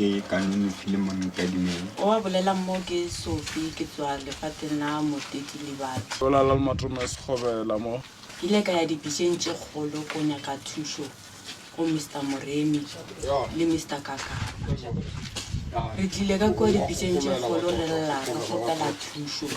Ke ka nonofile mo nkadimeng. O a bolelang mo ke Sophie ke tswa lefateng la Moteti Libati. Go la la Matome Sekgobela mo. Ke ile ka ya dibiseng tše kgolo ko nyaka thušo go Mister Moremi le Mister Kakaba. Re tlile ka kua dibiseng tše kgolo re lla re kgopela thušo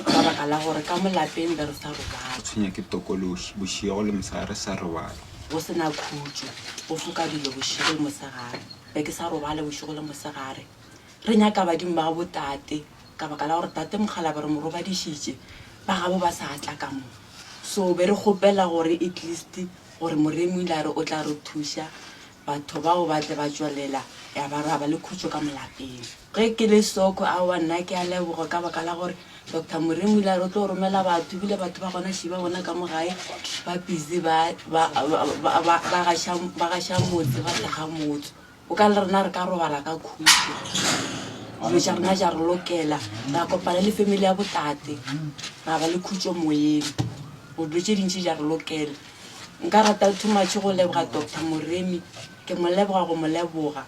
ka baka la gore ka mo lapeng be re sa robale. Tshwenya ke tokološi bošego le mosegare re sa robale. go se na khutšo, go foka dilo bošego le mosegare. Be ke sa robale bošego le mosegare. Re nyaka badimo ba gabo tate ka baka la gore tate mokgalabje re mo robadišitše, ba gabo ba sa tla ka mo. So be re kgopela gore at least gore Moremi o ile a re o tla re thuša, batho bao ba tle ba tšwelela ya ba ra ba le khutšo ka molapeng. Ge ke le Soko, aowa, nna ke a leboga ka baka la gore Doctor Moremi o ile a re o tlo romela batho, ebile batho ba gona še ba bona ka mo gae ba busy ba, ba, ba, ba, ba gaša, ba gaša motse, ba hlaga motse. O ka le rena re ka robala ka khutšo, dilo tša rena tša re lokela, ra kopana le family ya botate, ra ba le khutšo moyeng, gore dilo tše dintši tša re lokela. Nka rata too much go leboga Doctor Moremi, ke mo leboga go mo leboga.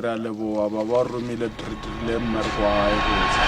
re a leboa ba ba romile re dirile mmereko wa gae botsa